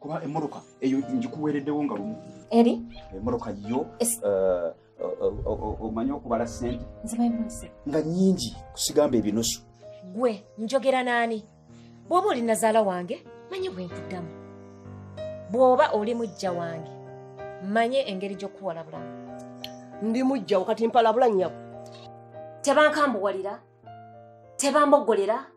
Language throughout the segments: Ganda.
kuba emmotoka eyo ngikuweereddewo nga lumu eri emmotoka yo eh, omanyi okubala sente nga nyingi kusigamba ebinusu gwe njogera naani bw'oba oli nazaala wange manye bwe nkuddamu bw'oba oli mujja wange manye engeri gy'okukuwalabulamu ndi mujjawo kati mpalabula nnyabo tebankambuwalira tebambogolera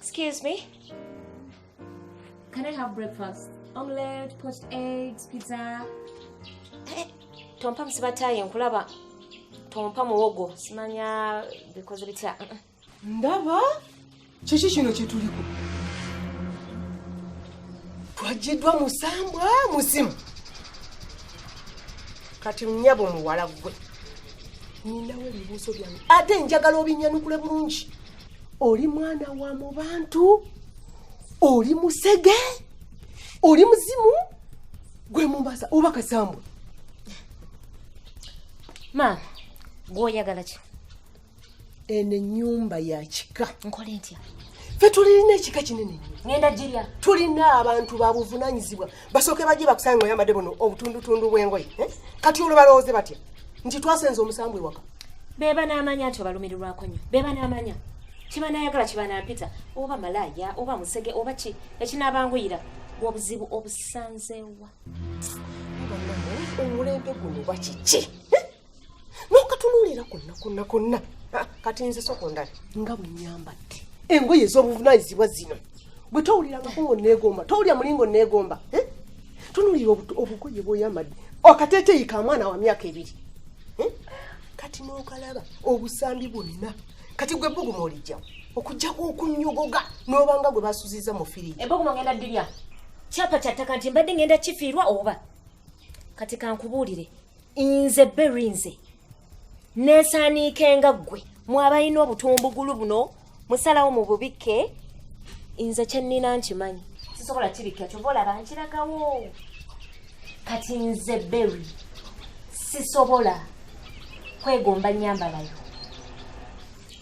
Excuse me. Can I have breakfast? Omelette, poached eggs, pizza. Eh, tompa musibatayi nkulaba. Tompa muwogo. Simanya bikoze bitya. Ndaba kiki kino kyetuliko. Twajiddwa musambwa muzimu. Kati nyabo muwala gwe. Ninawe ebibuuzo byange. Ate njagala obinyanukule bulungi. oli mwana wa mu bantu oli musege oli muzimu gwe mumbaza oba kasambwe maama gwoyagala ki eno enyumba yakika nkole ntya fe tulirina ekika kinene nnyo ngenda girya tulina abantu babuvunanyizibwa basooke bajje bakusange nga oyambadde buno obutundutundu bw'engoye eh? kati olwo balowooze batya nti twasenza omusambu ewaka beba n'amanya nti obalumirirwako nnyo beba n'amanya kibanayagala kibanampita oba malaaya oba musege oba ki ekinaabanguyira bwobuzibu obusanzeewa omulembe guno bakiki nokatunuulira konna konna konna ah, kati nze sokondale nga bwenyambadde engoye ez'obuvunanyizibwa zino bwe towulira ngako nga oneegomba towulira mulinga oneegomba eh? tunuulira obugoye bwoyambadde akateteeyi ka mwana wa myaka ebiri eh? kati nokalaba obusambi bwonna kati gwe buguma olijjawo okujjako okunyogoga n'obanga gwe basuziza mu firiji ebuguma ngenda dirya kyapa kyattaka nti mbadde ngenda kifiirwa oba kati kankubuulire nze beri nze nesaaniika enga ggwe mwabalina obutumbugulu buno musalawo mu bubikke nze kyennina nkimanyi sisobola kibikka kyova olaba nkiragawo kati nze beri sisobola kwegomba nyambalayo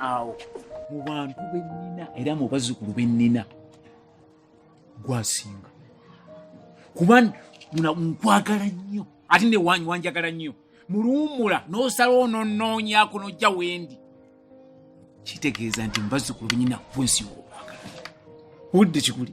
awo mu bantu bennina era mu bazzukulu bennina gwasinga kuba nkwagala nnyo ate newanyi wanjagala nnyo muluwumula n'osala ononoonyako nojja wendi kitegeeza nti mu bazzukulu benyina bwensi wokwagala budde kikuli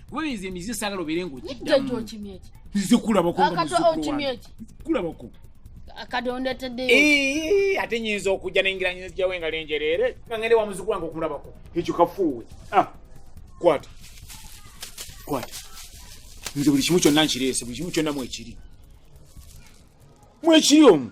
kuba nze emize sagala obeere ngaokiddamuzikulabakokulabako ate nyinza okujja nengiranyizajawo engalo enjereere ngende wa muzukulu wange okulabako ekyo kafuuwe ah, kwata kwata nze buli kimu kyonna nkireese buli kimu kyonna mwekiri mwekiri omu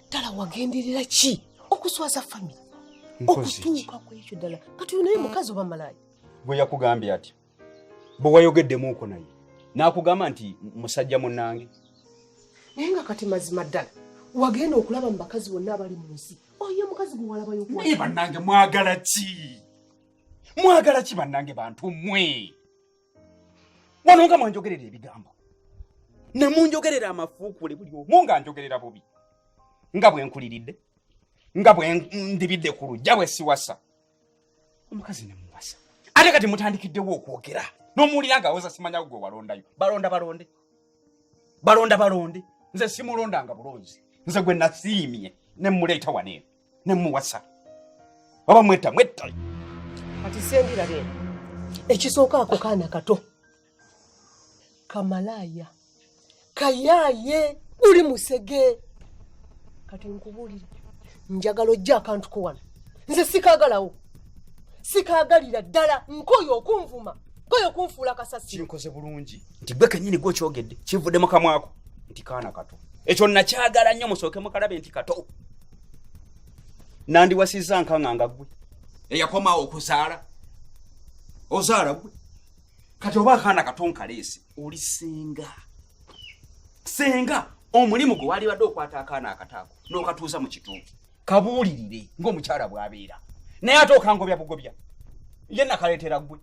ddala wagenderera ki okuswaza famire okutuuka ku ekyo ddala kati oyo naye mukazi oba malaaya gwe yakugambye ati bwe wayogeddemuuko naye n'akugamba nti musajja munnange naye nga kati mazima ddala wagenda okulaba mu bakazi bonna abali mu nsi oyo mukazi gwe walabayo naye bannange mwagala ki mwagala ki bannange bantu mmwe wano nga mwanjogerera ebigambo ne munjogerera amafuukuule buli omu nga njogerera bubi nga bwe nkuliridde nga bwe ndibidde ku lujja bwe siwasa omukazi ne muwasa ate kati mutandikiddewo okwogera n'omuwulira nga awoza simanya gwe walondayo balonda balonde balonda balonde nze simulondanga bulonzi nze gwe nasiimye ne muleeta waneeno ne muwasa oba mwetta mwetta kati sembira be ekisooka ako kaana kato kamalaaya kayaaye uli musege kati nkubuulire njagala ojja akantu ko wano nze sikagalawo sikagalira ddala nkoyo okunvuma nkoyo okunfuula kasasi kinkoze bulungi nti gwe kenyini gwe okyogedde kivudde mu kamwako nti kaana kato ekyo nakyagala nnyo musooke mukalabe nti kato nandiwasizza nkanga nga gwe eyakomawo okuzaala ozaala gwe kati oba akaana katonkaleesi oli senga senga omulimu gwe walibadde okwata akaana akataako n'okatuuza mu kituuki kabuulirire ng'omukyala bw'abeera naye ate okangobya bugobya ye nakaleetera gwe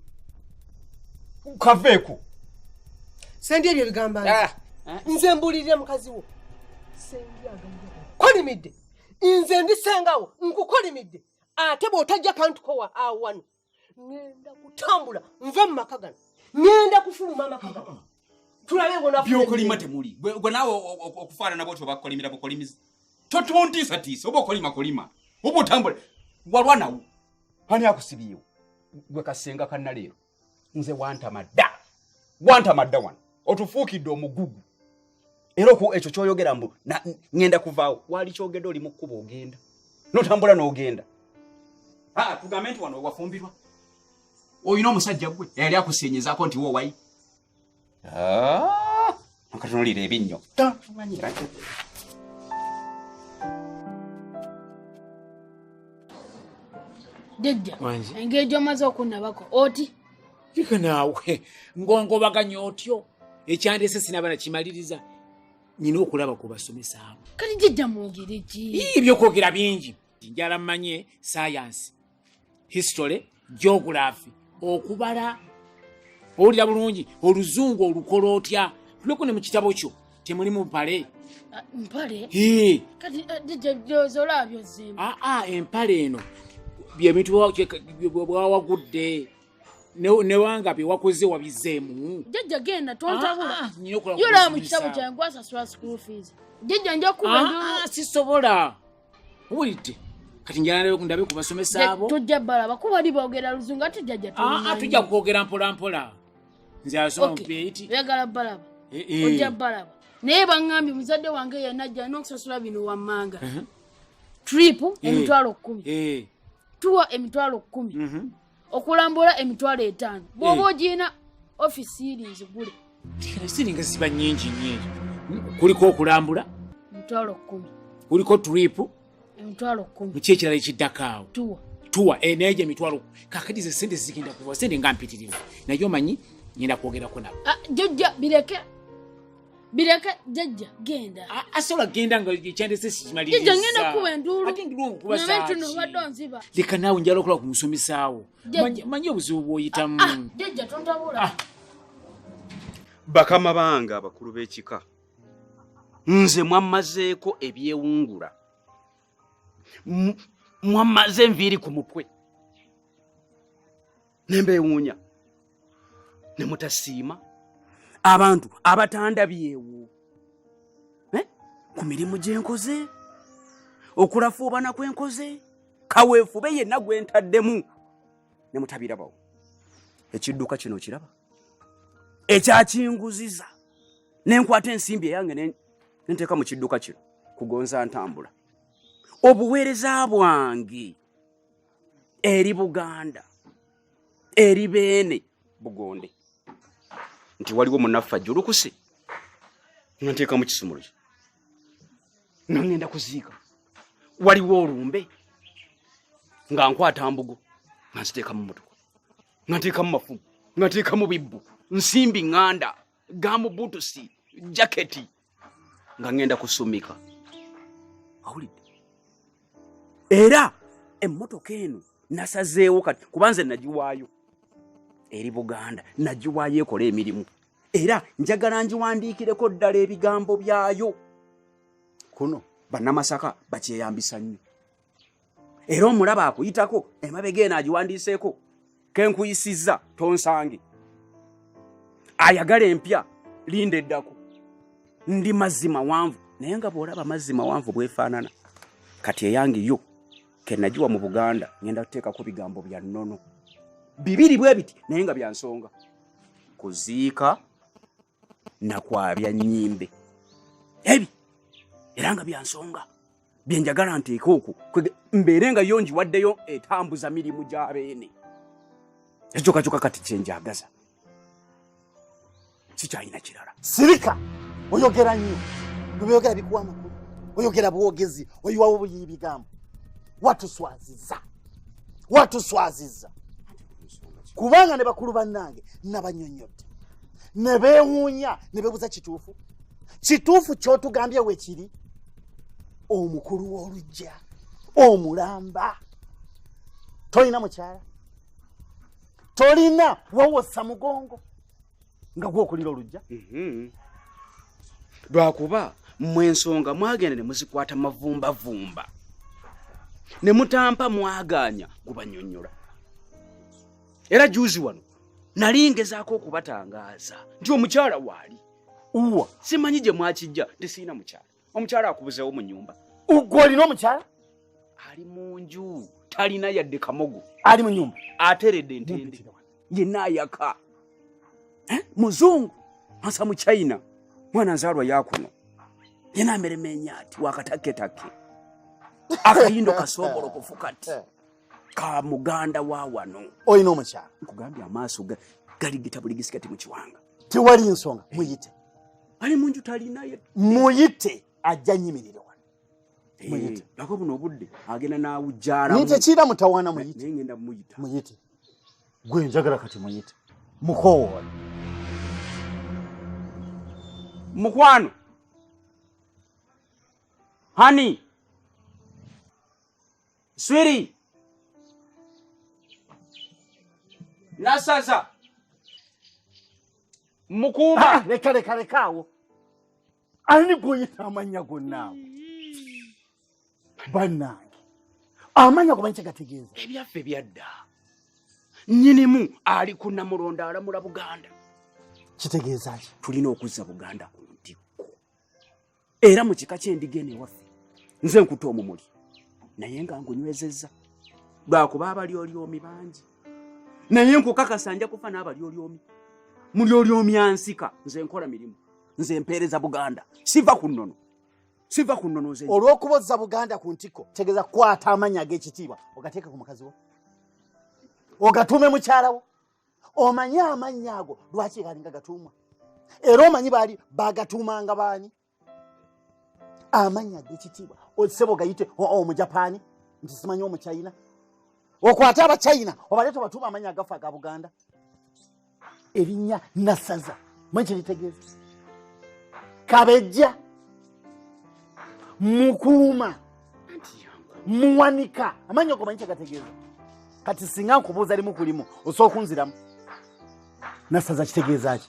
kaveeko sendi ebyo bigamba ah. nze mbuulirira mukazi wo kolimidde nze ndi sengawo nkukolimidde ate bw'otajja kantukowa awo wano ngenda kutambula nve mu maka gano ngenda kufuluma amaka gano tulabe byokolima temuli gwe naawe okufaanana bwotyo bakolimira bukolimizi totontiisatiisa oba okolima kolima oba otambula walwanawo ani akusibiyewo gwe kasenga kanaleero nze wantamadda wantamadda wano otufuukidde omugugu era oku ekyo kyoyogera mbu ŋenda kuvaawo waali kyogedde oli mu kkuba ogenda notambula n'ogenda ah, tugambe nti wano wafumbirwa olina omusajja gwe eyali akusiinyizaako nti wowayi Ah, akatunulira ebinnyo jajja engeri gyomaze okunnabako oti ika naawe ngongobaganya otyo ekyandese sinaba nakimaliriza nyina okulaba ku basomesa abo kati jajja mwogere ki ebyokwogera bingi njala mmanye sayansi history geography okubala owulira bulungi oluzungu olukola otya tuleko ne mu kitabo kyo temuli mu mpale ah, mpale eh, aa ah, ah, empale eno byebintu bwawagudde newanga byewakoze wabizeemu jajja genda tontabulayola mu kitabo kyange gwasasula school fees jajja njakuba sisobola uwulidde kati njala ndabe ku basomesa abo tujja balaba kuba bali boogera luzungu ate jjajja ah, ah, tujja kwogera mpolampola nze asoma mupeeti oyagala balaba eh, eh. ojja balaba naye baŋŋambye muzadde wange yanajja n'okusasula bino wammanga uh-huh. trip eh. emitwalo kkumi tuwa emitwalo kkumi mm-hmm. okulambula emitwalo etaano bwoba ogirina ofisi iri nzigule siringa ziba nyingi nyingi kuliko okulambula emitwalo kumi kuliko tripu emitwalo kumi muki ekirala ekiddako awo tuwa tuwa eh, naye gyo emitwalo kakati ze sente zigenda kuva sente nga mpitirivu naye omanyi ngenda kwogerako nabo ah, jojja bireke bireke jajja genda asobola genda nga ekyandese sikimalirjajja ngenda kukuba enduulunabentuno obadde onziba leka naawe njala okulaba ku musomesaawo manyi obuzibu bwoyitamu ah, ah, jajja tontabula ah. bakama bange abakulu b'ekika nze mwammazeeko ebyewungula mwammaze enviiri ku mutwe ne mbeewuunya ne mutasiima abantu abatandabyewo eh? ku mirimu gye nkoze okulafuubana kwe nkoze kaweefube yenna gwe ntaddemu ne mutabirabawo ekidduka kino kiraba ekyakinguziza ne nkwata ensimbi eyange ne nteeka mu kidduka kino kugonza ntambula obuweereza bwange eri buganda eri beene bugonde nti waliwo munaffe ajjulukuse nga nteekamu kisumulo kye nga ŋŋenda kuziika waliwo olumbe nga nkwata mbugo nga nziteekamu mutuku nga nteekamu mafumu nga nteekamu bibbu nsimbi ŋŋanda gamubutusi jaketi nga ŋŋenda kusumika awulidde era emmotoka eno nasazeewo kati kuba nze nagiwaayo eri buganda nagiwaayo ekola emirimu era njagala ngiwandiikireko ddala ebigambo byayo kuno bannamasaka bakyeyambisa nnyo era omulaba akuyitako emabega eno agiwandiiseeko kenkuyisizza tonsange ayagala empya linda eddako ndi mazzi mawanvu naye nga bwolaba mazzi mawanvu bwefaanana kati eyange yo kenagiwa mu buganda ngenda kuteekako bigambo bya nnono bibiri bwe biti naye nga byansonga kuziika nakwabya nyimbe ebi era nga byansonga byenjagala nteeka okwo mbeere nga yo njiwaddeyo etambuza mirimu gya beene ekyokakyuka kati kyenjagaza sikyalina kirala sirika oyogera nnyo nobyogera bikuwa amakulu oyogera bwogezi oyiwawo buyiyi bigambo watuswaziza watuswaziza kubanga ne bakulu bannange nabanyonyodde ne beewuunya ne bebuza kituufu kituufu kyotugambye wekiri omukulu w'olujja omulamba tolina mukyala tolina wawosa mugongo nga gwokulira olujja mhm. lwakuba mmwe ensonga mwagenda ne muzikwata mavumbavumba ne mutampa mwagaanya gubanyonyola era juzi wano nali ngezaako okubatangaaza nti omukyala waali uwa simanyi gye mwakijja nti sirina mukyala omukyala akubuzeewo mu nyumba ugwe olina omukyala ali mu nju talina yadde kamogo ali mu nyumba ateredde ntende yenna ayaka eh? muzungu ansa mu china mwana nzaalwa yakuno yena ameremenya ati wakataketakke akayindo kasombolo kufuka ati eh. ka muganda wa wano oyina omukyala nkugambye amaaso galigita buli gisigati mu kiwanga tewali nsonga muyite ali munju talinaye muyite ajja nyimirira wano eh, muyite ako buno obudde agenda nawujjala nite kiira mutawaana muyite ngenda muyita muyite gwe njagala kati muyite mukowoola mukwano honey swiri nasaza mukuuma ah, leka leka leka awo ani gwoyita amanya gonna awo bannange amanya gomanyi kyegategeeza ebyaffe byadda nyinimu ali ku namulondo alamula buganda kitegeeza ki tulina okuzza buganda ku era mu kika ky'endiga eno ewaffe nze nkuta omumuli naye nga ngunywezezza lwakuba abalyolyomi bangi naye nkukakasa nja kufa n'abalyolyomi mulyolyomi ansika nze nkola mirimu nze mpeereza buganda siva ku nnono siva ku nnono nze olw'okuba ozza buganda ku ntikko tegeza kukwata amannya ag'ekitiibwa ogateeke ku mukazi wo ogatuume mukyala wo omanyi amannya ago lwaki galinga gatuumwa era omanyi baali bagatuumanga baani amannya gekitiibwa osebo gayite omujapaani nti simanyi omuchina okwate abachina obale tobatuuma amannya agafa aga buganda erinnya nasaza mwe kiritegeeza kabejja mukuuma muwanika amanyi ogomanyi kyagategeeza kati singa nkubuuza limu kulimu osobola okunziramu nasaza kitegeeza ki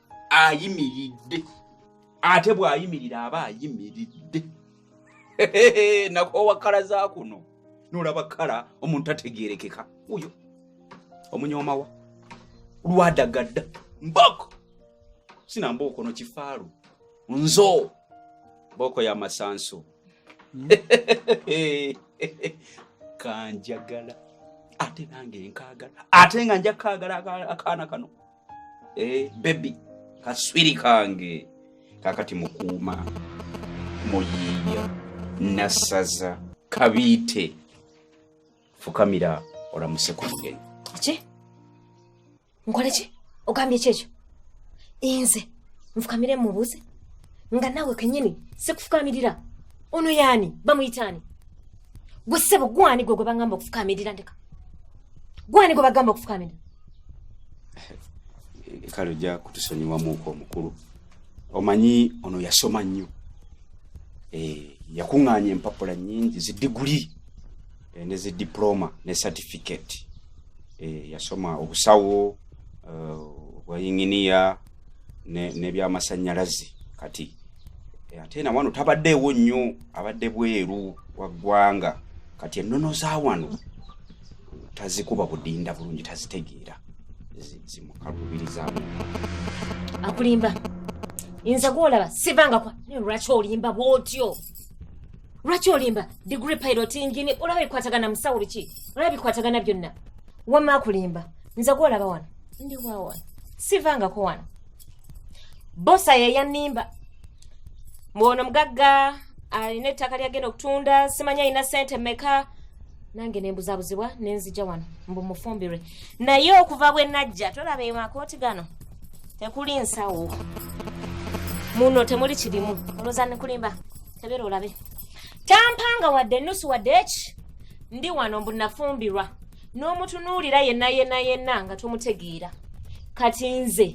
ayimiridde ate bw'ayimirira aba ayimiridde nakoowa kkala za kuno n'olaba kkala omuntu ategeerekeka oyo omunyoomawa lwadagadda mboko sina mbooko no kifaalu nzo mbooko ya masanso hmm. kanjagala ate nange nkaagala ate nga nja kaagala akaana kano Eh, bebi kaswiri kange kakati mukuuma muyiiya nassaza kabiite fukamira olamuse ku mugenyi ki nkole ki ogambye ki ekyo inze nfukamire mubuuze nga naawe kenyini sikufukamirira ono yaani bamuyitaani gwe ssebo gwani gwe gwe bagamba okufukamirira ndeka gwani gwe bagamba okufukamirira kale ojja kutusonyiwamuuko omukulu omanyi ono yasoma nnyo eh, yakuŋŋaanya empapula nnyingi zidiguli eh, ne zi diploma ne certificate eh, yasoma obusawo obwayinginiya nebyamasannyalaze kati ate na wano tabaddeewo nnyo abadde bweru wa ggwanga kati ennono za wano tazikuba budinda bulungi tazitegeera zimukalubirizamu akulimba nze gwolaba sivangakwa naye lwaki olimba bwotyo lwaki olimba digre pilot engine olaba bikwatagana musawo biki olaba bikwatagana byonna wamma akulimba nze gwolaba wano ndi wawa sivangako wano bosa yeyanimba mwono mugagga alina ettaka lyagenda okutunda simanya alina sente meka nange nembuzabuzibwa nenzija wano mbu mufumbirwe naye okuva bwe najja tolaba eyo makooti gano tekuli nsawo muno temuli kirimu olwoza nikulimba tebera olabe tampanga wadde enusu wadde eki ndi wano mbu nafumbirwa n'omutunuulira yenna yenna yenna nga tomutegeera kati nze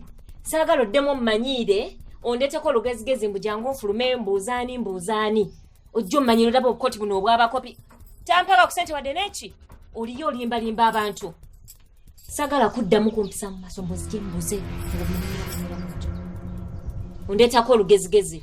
saagala oddemu ommanyiire ondeteko olugezigezi mbu jangu nfulume mbuuzaani mbuuzaani ojja omanyira olaba obukoti buno obwabakopi tampaga ku sente wadde neki oliyo olimbalimba abantu sagala kuddamu kumpisa mu maso mbuzije mbuze ondeetako olugezigezi